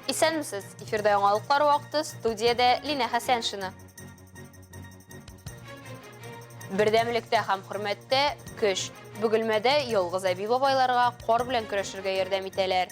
Исәнмесез! Эфирда яңалыклар вакыты, студиядә Лина Хәсәншина. Бердәмлектә һәм хөрмәттә, көч. Бөгелмәдә ялгыз әби-бабайларга кар белән көрәшергә ярдәм итәләр.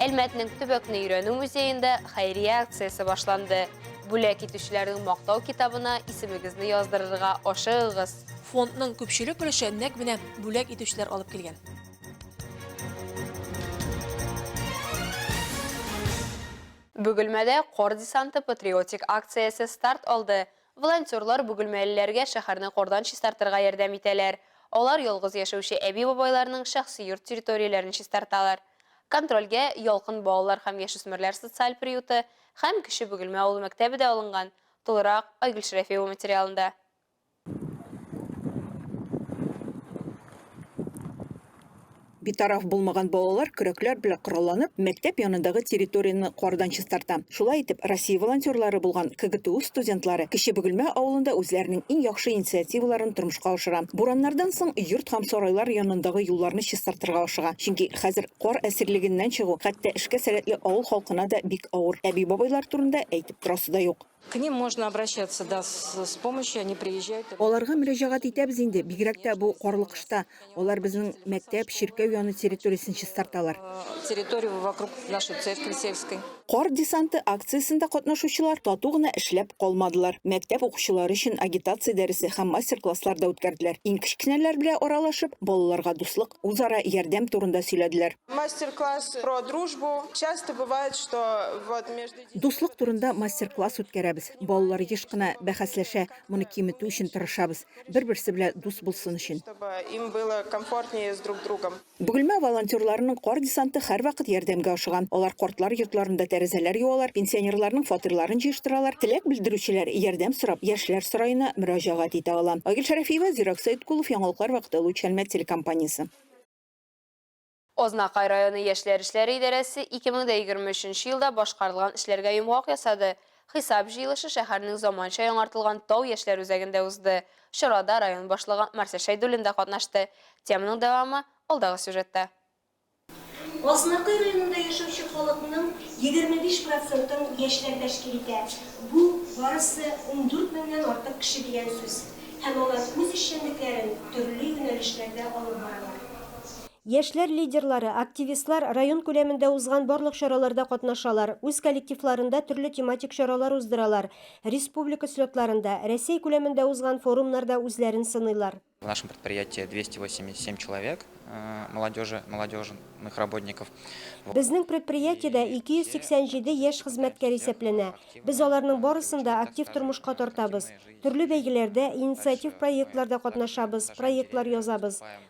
Әлмәтнең төбәкне өйрәнү музеенда хәйрия акциясе башланды. Бүләк итүчеләрнең мактау китабына исемегезне яздырырга ашыгыгыз. Фондның күпчелек өлеше нәкъ менә бүләк итүчеләр алып килгән. Бөгелмәдә Кар десанты патриотик акциясе старт алды. Волонтерлар бөгелмәлеләргә шәһәрне кардан чистартырга ярдәм итәләр. Алар ялгыз яшәүче әби-бабайларның шәхси йорт территорияләрен чистарталар. Контрольгә Ялкын балалар һәм яшүсмерләр социаль приюты һәм Кече Бөгелмә авыл мәктәбе дә алынган, тулырак, Айгөл Шәрәфиева материалында. Битараф булмаган балалар көрәкләр белән коралланып, мәктәп янындагы территорияне кардан чистарта. Шулай итеп, Россия волонтерлары булган КГТУ студентлары Кече Бөгелмә авылында үзләренең иң яхшы инициативаларын тормышка ашыра. Бураннардан соң йорт һәм сарайлар янындагы юлларны чистартырга ашыга. Чөнки хәзер кар әсирлегеннән чыгу хәтта эшкә сәләтле авыл халкына да бик авыр. Әби-бабайлар турында әйтеп торасы да юк. К ним можно обращаться, да, с, с помощью, они приезжают. Аларга мөрәҗәгать итәбез инде, бигрәк тә бу карлы кышта. Алар безнең мәктәп, чиркәү яны территориясен чистарталар. Э, территорию вокруг нашей церкви сельской. Кар десанты акциясендә катнашучылар тату гына эшләп калмадылар. Мәктәп укучылары өчен агитация дәресе һәм мастер-класслар да үткәрделәр. Иң кечкенәләр белән аралашып, балаларга дуслык, үзара ярдәм турында сөйләделәр. Мастер-класс про дружбу. Часто бывает, что вот между Дуслык турында мастер-класс үткәрәбез. Балалар еш кына бәхәсләшә, моны киметү өчен тырышабыз, бер-берсе белә дус булсын өчен. Бөгелмә волонтерларының кар десанты һәрвакыт ярдәмгә ашыган. Алар картлар йортларында тәрәзәләр юалар, пенсионерларның фатирларын җыештыралар. Теләк белдерүчеләр, ярдәм сорап, Яшьләр сараена мөрәҗәгать итә ала. Айгөл Шәрәфиева, Зирак Сәеткулов, Яңалыклар вакыты, Луч Әлмәт телекомпаниясе. Азнакай районы яшьләр эшләре идарәсе 2023 елда башкарылган эшләргә йомгак ясады. Хисап җыелышы шәһәрнең заманча яңартылган Тау яшьләр үзәгендә узды. Чарада район башлыгы Марсель Шәйдуллин да катнашты. Теманың дәвамы алдагы сюжетта. Азнакай районында яшәүче халыкның 25 процентын яшьләр тәшкил итә. Бу, барысы ундүрт меңнән артык кеше дигән сүз. Һәм алар үз эшчәнлекләрен төрле юнәлешләрдә алып баралар. Яшьләр лидерлары, активистлар район күләмендә узган барлык чараларда катнашалар, үз коллективларында төрле тематик чаралар уздыралар, республика слетларында, Рәсәй күләмендә узган форумнарда үзләрен сыныйлар. В нашем предприятии 287 человек молодежи, молодежных работников. Безнең предприятиедә 287 яшь хезмәткәр исәпләнә. Без аларның барысын да актив тормышка тартабыз. Төрле бәйгеләрдә, инициатив проектларда катнашабыз, проектлар язабыз.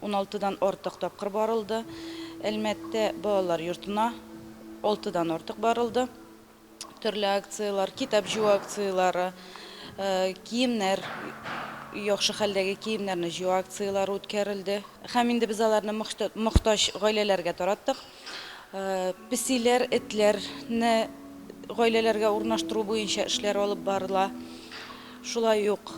Уналтыдан артык тапкыр барылды. Әлмәттә балалар йортына алтыдан артык барылды. Төрле акцияләр, китап җыю акцияләре, киемнәр, яхшы хәлдәге киемнәрне җыю акцияләре үткәрелде. Һәм инде без аларны мохтаҗ гаиләләргә тараттык. Песиләр, этләр не гаиләләргә урнаштыру буенча эшләр алып барыла. Шулай ук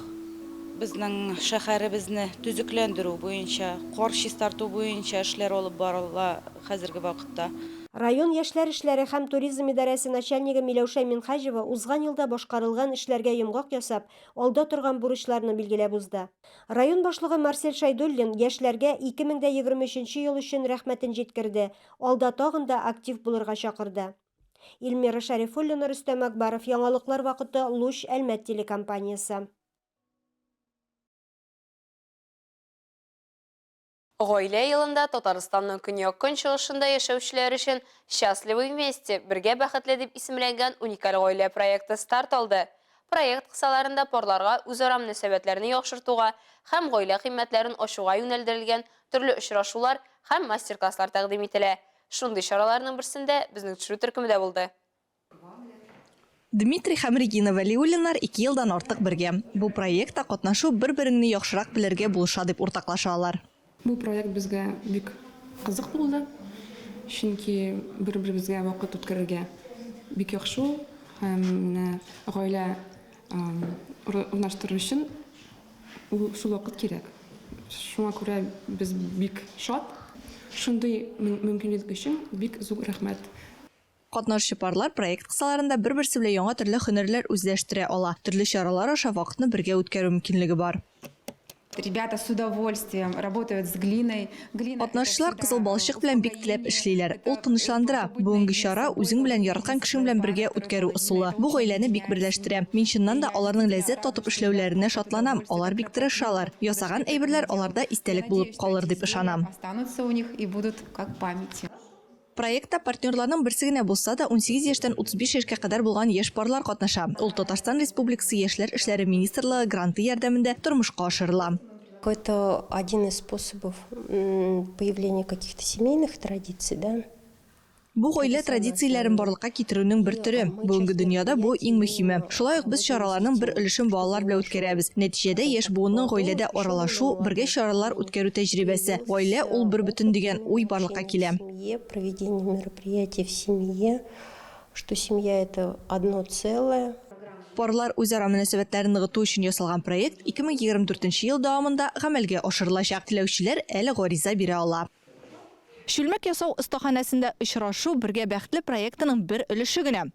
безнең шәһәребезне төзекләндерү буенча, кар чистарту буенча эшләр алып барыла хәзерге вакытта. Район яшьләр эшләре һәм туризм идарәсе начальнигы Миләүшә Минһаҗева узган елда башкарылган эшләргә йомгак ясап, алда торган бурычларны билгеләп узды. Район башлыгы Марсель Шәйдуллин яшьләргә 2023 нче ел өчен рәхмәтен җиткерде, алда тагын да актив булырга чакырды. Ильмира Шәрифуллина, Рөстәм Әкбаров, яңалыклар вакыты, Луч, Әлмәт телекомпаниясе. Гаилә елында Татарстанның көньяк-көнчыгышында яшәүчеләр өчен Счастливы вместе, Бергә бәхетле дип исемләнгән уникаль гаилә проекты старт алды. Проект кысаларында парларга үзара мөнәсәбәтләрне яхшыртуга һәм гаилә кыйммәтләрен ачуга юнәлдерелгән төрле очрашулар һәм мастер-класслар тәкъдим ителә. Шундый чараларның берсендә безнең төшерү төркеме дә булды. Дмитрий һәм Регина Вәлиуллиннар ике елдан артык бергә. Бу проектта катнашу бер-береңне яхшырак белергә булыша, дип уртаклаша алар. Бу проект безгә бик кызык булды, чөнки бер-беребезгә вакыт үткәрергә бик яхшы ул һәм менә гаилә урнаштыру өчен ул шул вакыт кирәк. Шуңа күрә без бик шат. Шундый мөмкинлек өчен бик зур рәхмәт! Катнашчы парлар проект кысаларында бер-берсе белән яңа төрле һөнәрләр үзләштерә ала, төрле чаралар аша вакытны бергә үткәрү мөмкинлеге бар. Ребята с удовольствием работают с глиной. Глина Катнашчылар кызыл балчык белән бик теләп эшлиләр. Ул тынычландыра. Бүгенге чара, үзең белән яраткан кешең белән бергә үткәрү ысулы. Бу гаиләне бик берләштерә. Мин чыннан да аларның ләззәт татып эшләүләренә шатланам, алар бик тырышалар. Ясаган әйберләр аларда истәлек булып калыр дип ышанам. Останутся у них и будут как память. Проектта партнерларның берсе генә булса да, унсигез яшьтән утыз биш яшькә кадәр булган яшь парлар катнаша. Ул Татарстан Республикасы Яшьләр эшләре министрлыгы гранты ярдәмендә тормышка ашырыла. Это один из способов появления каких-то семейных традиций, да. Бу гаилә традицияләрен барлыкка китерүнең бер төре. Бүгенге дөньяда бу, иң мөһиме. Шулай ук без чараларның бер өлешен балалар белән үткәрәбез. Нәтиҗәдә яшь буынның гаиләдә аралашу, бергә чаралар үткәрү тәҗрибәсе, гаилә, ул бербөтен дигән уй барлыкка алып килә. Парлар үзара мөнәсәбәтләрен ныгыту өчен ясалган проект 2024 нче ел дәвамында гамәлгә ашырылачак. Теләүчеләр әле гариза бирә ала. Чүлмәк ясау остаханәсендә очрашу Бергә бәхетле проектының бер өлеше генә.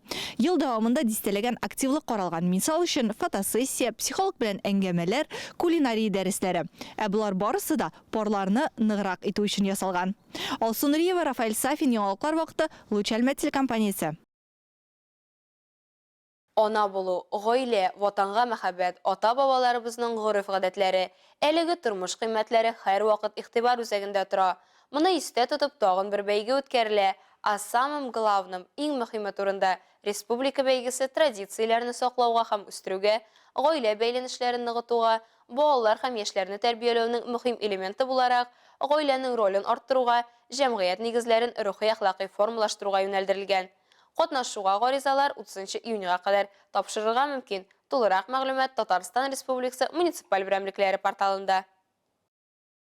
Ел дәвамында дистәләгән активлык каралган, мисал өчен, фотосессия, психолог белән әңгәмәләр, кулинария дәресләре. Ә болар барысы да, Парларны ныграк итү өчен ясалган. Алсу Нуриева, Рафаэль Сафин, Яңалыклар вакыты, Луч Әлмәт телекомпаниясе. Ана булу, гаилә, Ватанга мәхәббәт, ата-бабаларыбызның гореф-гадәтләре, әлеге тормыш кыйммәтләре һәрвакыт игътибар үзәгендә тора. Моны истә тотып, тагын бер бәйге үткәрелә, О самом главном, Иң мөһиме турында, республика бәйгесе традицияләрне саклауга һәм үстерүгә, гаилә бәйләнешләрен ныгытуга, балалар һәм яшьләрне тәрбияләүнең мөһим элементы буларак, гаиләнең ролен арттыруга, җәмгыять нигезләрен рухи-әхлакый формалаштыруга юнәлдерелгән. Катнашуга гаризалар утызынчы июньгә кадәр тапшырырга мөмкин, тулырак мәгълүмат Татарстан Республикасы муниципаль берәмлекләре порталында.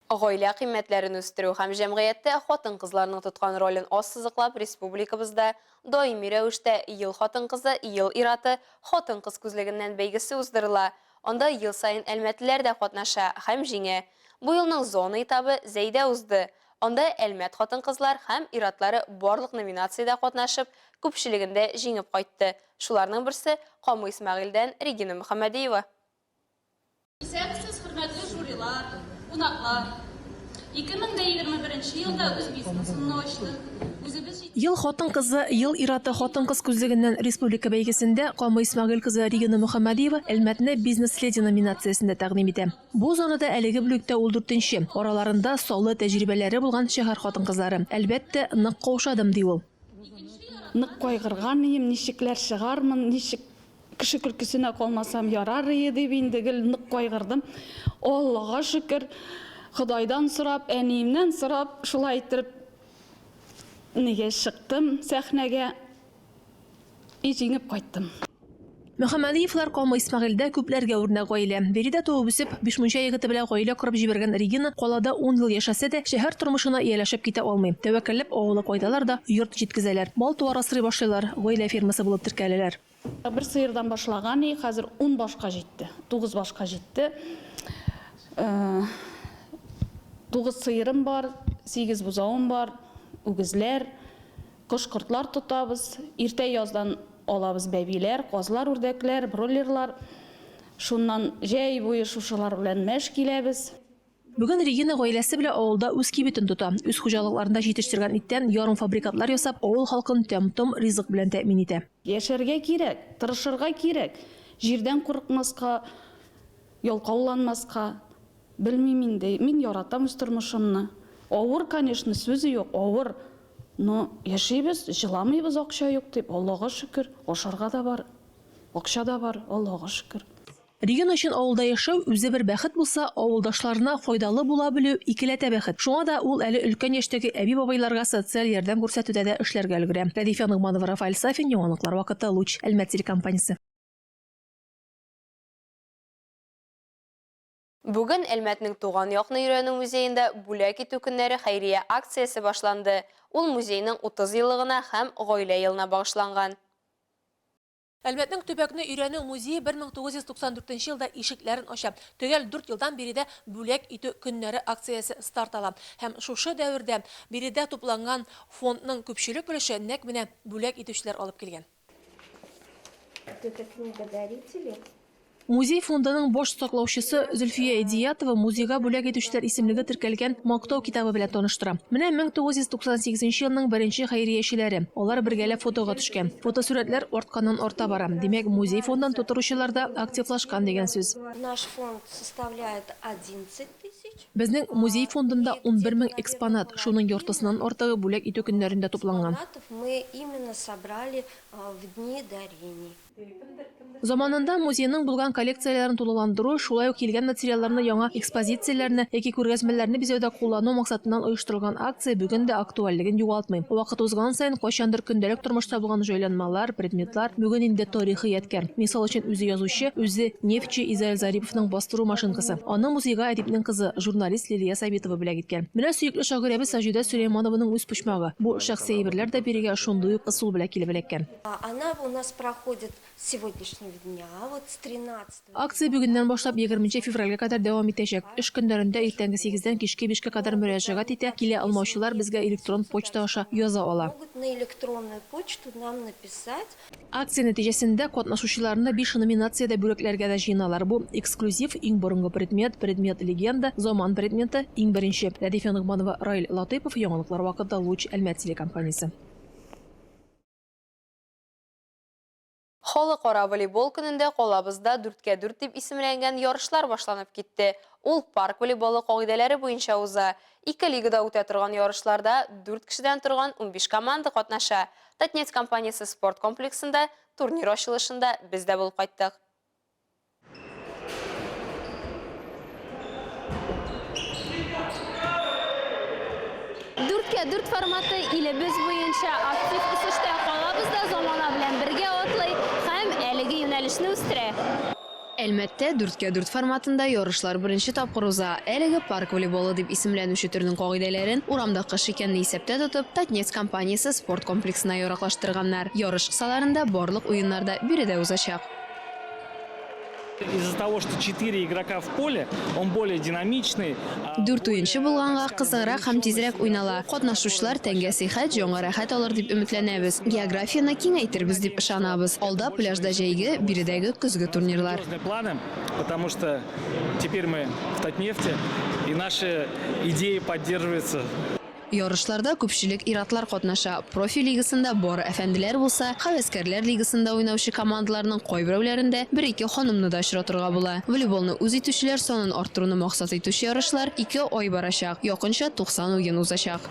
Гаилә кыйммәтләрен үстерү һәм җәмгыятьтә хатын-кызларның тоткан ролен ассызыклап республикабызда даими рәвештә Ел хатын-кызы, Ел ир-аты, Хатын-кыз күзлегеннән бәйгесе уздырыла. Анда ел саен әлмәтлеләр дә катнаша һәм җиңә. Бу елның зона этабы Зәйдә узды. Анда Әлмәт хатын-кызлар һәм ир-атлары барлык номинациядә катнашып, күпчелегендә җиңеп кайтты. Шуларның берсе, Камы Исмәгыйльдән Регина Мөхәммәдиева. Исәнмесез, хөрмәтле жюрилар, кунаклар! 2021 елда үз бизнесымны ачтым. Үзебез Ел хатын-кызы, ел ир-аты хатын-кыз күзлегеннән республика бәйгесендә Камый Исмәгыйль кызы Регина Мөхәммәдиева Әлмәтне бизнес-леди номинациясендә тәкъдим итә. Бу зонада әлеге бүлектә ул дүртенче, араларында саллы тәҗрибәләре булган шәһәр хатын-кызлары. Әлбәттә, нык каушадым, ди ул. Нык кайгырган ием, ничекләр чыгармын, ничек Кеше көлкесенә калмасам ярар ие дип инде гел нык кайгырдым. Аллага шөкер, Ходайдан сорап, әниемнән сорап, шулай иттереп нигә чыктым сәхнәгә и җиңеп кайттым. Мөхәммәдиевлар комы Исмәгыйльдә күпләргә үрнәк гаилә. Биредә туып үсеп, Бишмунча егете белән гаилә корып җибәргән Регина калада ун ел яшәсә дә, шәһәр тормышына ияләшеп китә алмый. Тәвәккәлләп авылы кайталар да, йорт җиткезәләр. Мал-туар асрый башлыйлар, гаилә фермасы булып теркәләләр. Бер сыердан башлаган и хәзер ун башка җитте, тугыз башка җитте. Тугыз сыерым бар, сигез бозавым бар, үгезләр, кош-кортлар тотабыз. Иртә яздан алабыз бәбиләр, казлар, үрдәкләр, бройлерлар. Шуннан җәй буе шушылар белән мәш киләбез. Бүген Регина гаиләсе белән авылда үз кибетен тота. Үз хуҗалыкларында җитештергән иттән ярымфабрикатлар ясап, авыл халкын тәм-том ризык белән тәэмин итә. Яшәргә кирәк, тырышырга кирәк. Җирдән курыкмаска, ялкауланмаска. Белмим инде, мин яратам үз тормышымны. Авыр, конечно, сүзе юк, авыр. Но яшибез, җыламыйбыз акча юк дип, Аллага шөкер. Ашарга да бар, акча да бар, Аллага шөкер. Регина өчен авылда яшәү, үзе бер бәхет булса, авылдашларына файдалы була белү, икеләтә бәхет. Шуңа да ул әле өлкән яшьтәге әби-бабайларга социаль ярдәм күрсәтүдә дә эшләргә өлгерә. Рәдифә Ногманова, Рафаэль Сафин, яңалыклар вакыты, Луч, Әлмәт телекомпаниясе. Бүген Әлмәтнең Туган якны өйрәнү музеенда Бүләк итү көннәре хәйрия акциясе башланды. Ул музейның 30 еллыгына һәм Гаилә елына багышланган. Әлмәтнең төбәкне өйрәнү музее 1994 елда ишекләрен ача. Төгәл дүрт елдан биредә Бүләк итү көннәре акциясе старт ала. Һәм шушы дәвердә биредә тупланган фондның күпчелек өлеше нәкъ менә бүләк итүчеләр алып килгән. Музей фондының баш саклаучысы Зөлфия Эдиятова музейга бүләк итүчеләр исемлеге теркәлгән Мактау китабы белән таныштыра. Менә 1998 нче елның беренче хәйриячеләре. Алар бергәләп фотога төшкән. Фотосурәтләр артканнан-арта бара. Димәк, музей фондын тутыручылар да активлашкан дигән сүз. Наш фонд составляет одиннцать тысяч. Безнең музей фондында унбер мең экспонат, шуның яртысыннан артыгы бүләк итү көннәрендә тупланган. Экспонатов мы именно собрали в дни дарений. Заманында музейның булган коллекцияләрен тулыландыру, шулай ук килгән материалларны яңа экспозицияләрне яки күргәзмәләрне бизәүдә куллану максатыннан оештырылган акция бүген дә актуальлеген югалтмый. Вакыт узган саен кайчандыр көндәлек тормышта булган җайланмалар, предметлар бүген инде тарихи ядкәр. Мисал өчен үзе язучы, үзе нефтьче Изаил Зариповның бастыру машинкасы. Аны музейга әдипнең кызы, журналист Лилия Сабитова бүләк иткән. Менә сөекле шагыйрәбез Саҗидә Сөләйманованың үз почмагы. Бу шәхси әйберләр дә бирегә шундый ук ысул белән килеп эләккән. Акция бүгеннән башлап егерменче февральгә кадәр дәвам итәчәк. Эш көннәрендә иртәнге сигездән кичке бишкә кадәр мөрәҗәгать итә, килә алмаучылар безгә электрон почта аша яза ала. Акция нәтиҗәсендә катнашучыларны биш номинациядә бүләкләргә дә җыеналар, бу, эксклюзив, иң борынгы предмет, предмет-легенда, заман предметы, иң беренче. Рәдифә Ногманова, Раил Латыйпов, Яңалыклар вакыты, Луч, Әлмәт телекомпаниясе. Халыкара волейбол көнендә калабызда дүрткә дүрт дип исемләнгән ярышлар башланып китте. Ул парк волейболы кагыйдәләре буенча уза. Ике лигада үтә торган ярышларда дүрт кешедән торган унбиш команда катнаша. Татнефть компаниясе спорт комплексында турнир ачылышында без дә булып кайттык. Дүрткә дүрт форматы илебез буенча актив үсештә, калабыз да замана белән бергә атлый һәм әлеге юнәлешне үстерә. Әлмәттә дүрткә дүрт форматында ярышлар беренче тапкыр уза. Әлеге парк волейболы дип исемләнүче төрнең кагыйдәләрен, урамда кыш икәнне исәптә тотып, Татнефть компаниясе спорт комплексына яраклаштырганнар. Ярыш кысаларында барлык уеннар да биредә узачак. Из-за того, что 4 игрока в поле, он более динамичный. Дүрт уенчы булганга кызыграк һәм тизрәк уйнала. Катнашучылар тәнгә сихәт, җанга рәхәт алыр дип өметләнәбез. Географияне киңәйтербез дип ышанабыз. Алда пляжда җәйге, биредәге көзге турнирлар. планы, потому что теперь мы в Татнефте, и наши идеи поддерживаются. Ярышларда күпчелек ир-атлар катнаша. Профи лигасында бары әфәнделәр булса, һәвәскәрләр лигасында уйнаучы командаларның кайберәүләрендә бер-ике ханымны да очратырга була. Волейболны үз итүчеләр санын арттыруны максат итүче ярышлар ике ай барачак, якынча 90 уен узачак.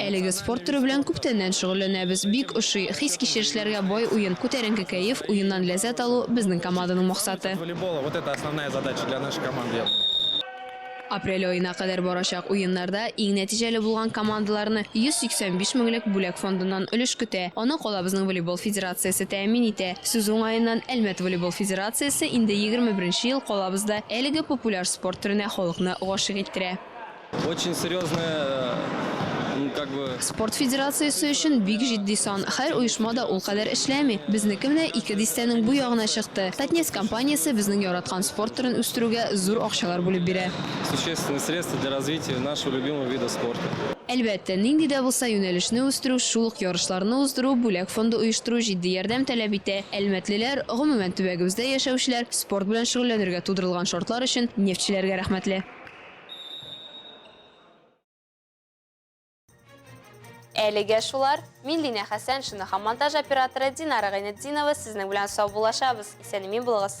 Әлеге спорт төре белән күптәннән шөгыльләнәбез. Бик ошый. Хис-кичерешләргә бай уен, күтәренке кәеф, уеннан ләззәт алу, безнең команданың максаты. Апрель аена кадәр барачак уеннарда иң нәтиҗәле булган командаларны 185 меңлек бүләк фондыннан өлеш көтә. Аны калабызның волейбол федерациясе тәэмин итә. Сүз уңаеннан, Әлмәт волейбол федерациясе инде егерме беренче ел калабызда әлеге популяр спорт төренә халыкны гашыйк иттерә. Очень серьезная, ну, как бы. Спорт федерациясе өчен бик җитди сан. Һәр оешма да ул кадәр эшләми. Безнеке менә ике дистәнең бу ягына чыкты. Татнефть компаниясе безнең яраткан спорт төрен үстерүгә зур акчалар бүлеп бирә. Существенные средства для развития нашего любимого вида спорта. Әлбәттә, нинди дә булса юнәлешне үстерү, шул ук ярышларны уздыру, бүләк фонды оештыру җитди ярдәм таләп итә. Әлмәтлеләр, гомумән, төбәгебездә яшәүчеләр спорт белән шөгыльләнергә тудырылган шартлар өчен нефтьчеләргә рәхмәтле. Әлегә шулар. Мин Лина Хәсәншина һәм монтаж операторы Динара Гайнетдинова сезнең белән сау булашабыз. Исән-имин булыгыз.